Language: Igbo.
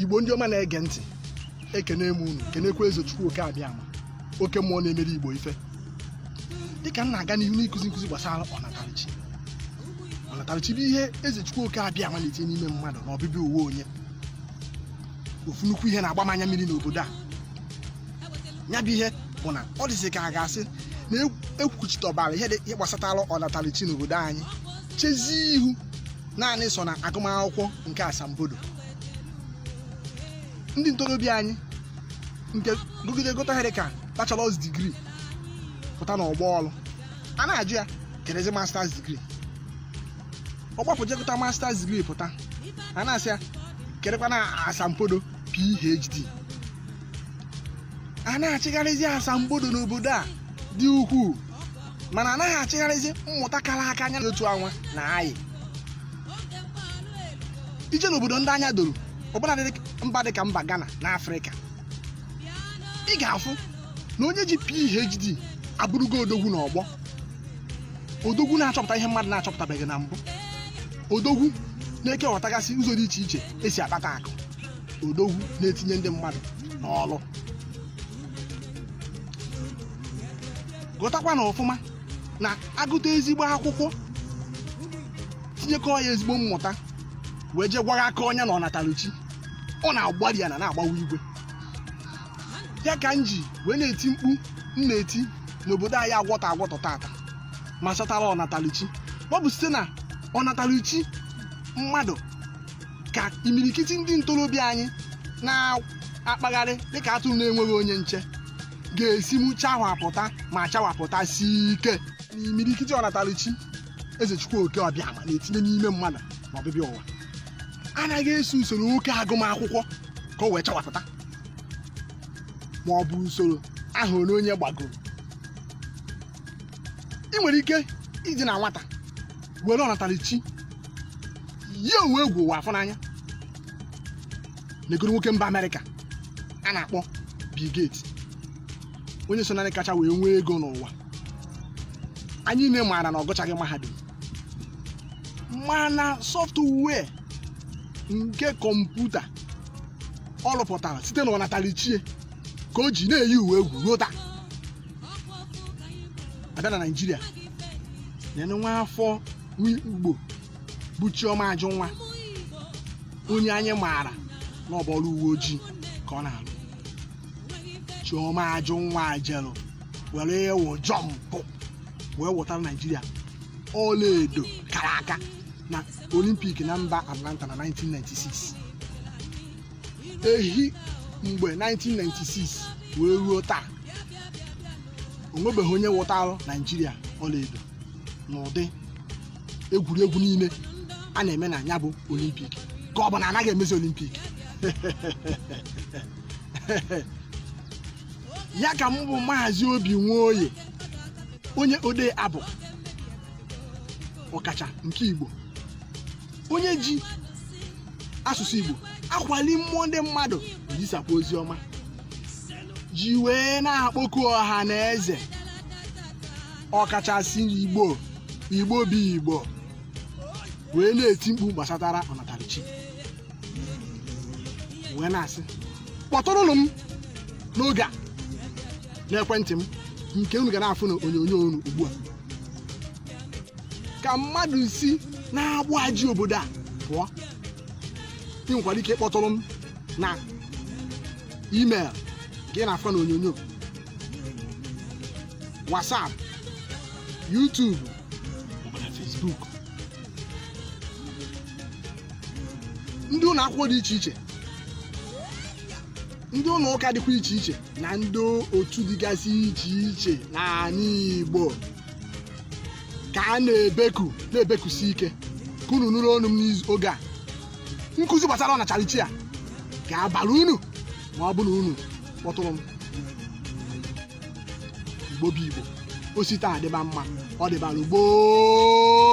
igbo ndị ọma na-ege ntị ekene m unu kenekwa eze chukwu oke abịama oke mmụọ na-emere igbo ife dịka m na-aga n'ihu n'ịkụzi nkụzi gbasara ọnatarichi ọnatarichi bụ ihe eze chukwu oke abịama na-etinye n'ime mmadụ na ọbịbịa ụwa onye ofu nnukwu ihe na-agba m anya mmiri n'obodo a ya bụ ihe bụ na ọ dịzi ka a ga-asị na ekwuchitọbara ihe gbasatara ọnatarichi n'obodo anyị chezie ihu naanị sọ na agụmakwụkwọ nke asambodo ndị ntorobịa anyị nke gụgide gụta ihe dịka bachelọs digrii pụta n'ọgbọ ọrụ a na-ajụ ya kedụzi masters digrii ọ gbapụ je gụta masters digrii pụta a na-asị ya kedụkwanụ asambodo phd a na-achịgharịzi asambodo n'obodo a dị ukwuu mana anaghị achịgharịzi mmụta kara aka anya otu anwa na anyị i je n'obodo ndị anya doro ọbụnadị mba dị ka mba Ghana na Afrịka ị ga-afụ na onye ji PhD abụrụgo odogwu na ọgbọ odogwu na-achọpụta ihe mmadụ na-achọpụtabeghị na mbụ odogwu na-ekeghọtagasị ụzọ dị iche iche esi akpata akụ odogwu na-etinye ndị mmadụ n'ọrụ ghọtakwanụ ọfụma na a gụta ezigbo akwụkwọ tinyekọọ ya ezigbo mmụta wee jee gwara aka onye na ọnataruchi ọ na-agbari ana na-agbawa igwe ya ka m ji wee na-eti mkpu m na-eti n'obodo anyị agwọtọ agwọtọ tata gbasatara ọnataluchi ọ bụ site na ọnataluchi mmadụ ka imirikiti ndị ntorobịa anyị na-akpagharị dịka atụrụ na-enweghị onye nche ga-esinwu chawapụta ma chawapụtasie ike na imirikiti ọnatalichi eze chukwu oke ọbịama na-etinye n'ime mmadụ na ọbịbịa ụwa anaghị eso usoro oke agụmakwụkwọ ka o wee chawapụta ma ọ bụ usoro afọ one onye gbagoro ị nwere ike isi na nwata were ọnatalichi yie ụwa egwu ụwa afụ n'anya negodu nwoke mba amerịka a na-akpọ Bill Gates onye so na ndị kacha wee nwee ego n'ụwa anyị niile maara na ọ gụchaghị mahadum mana sọftụwee nke kọmputa ọ rụpụtara site na ọnatalichi ya ka o ji na-eyi ụwa egwu ruo taa a bịa na naijiria nenee nwa afọ igbo bụ chioma ajụnwa onye anyị maara na ọ bụ ọrụ uwe ojii ka ọ na-alụ chioma ajụnwa jelụ were ịwụ jọmpụ wee wụtara naijiria ọlaedo kara aka na olimpik na mba atlanta na 1996 ehi mgbe 1996 wee ruo taa o nwebeghị onye wụtara naijiria ọlaedo n'ụdị egwuregwu niile a na-eme na ya bụ olimpik ka ọ bụ na a naghị emezi olimpik ya ka mụ bụ maazị obi nwoye onye odee abụ ọkacha nke igbo onye ji asụsụ igbo akwali mmụọ ndị mmadụ ezisapụ ozi ọma ji wee na-akpọku ọha na eze ọkachasị igbo igbo bụ igbo wee na-eti mkpu gbasatara ọnatarachi wee na-asị kpọtụrụnụ m n'oge a n'ekwentị m nke unu ga na-afụ na onyonyo unu ugbu a ka mmadụ si n'agbụ a ji obodo a pụọ ị nwekwara ike ịkpọtụrụ m na email gị na-afụ na onyonyo WhatsApp YouTube maọbụ na Facebook ndị ụlọ akwụkwọ dị iche iche ndị ụlọ ụka dịkwa iche iche na ndị otu dịgasị iche iche n'ala Igbo ka a na-ebeku na-ebekusi ike ka unu nụrụ onu m n'oge a nkụzi gbasara ọnatarachi a ga-abara unu ma ọ bụ na unu kpọtụrụ m igbo bụ igbo o si taa dịba mma ọ dịbara gboo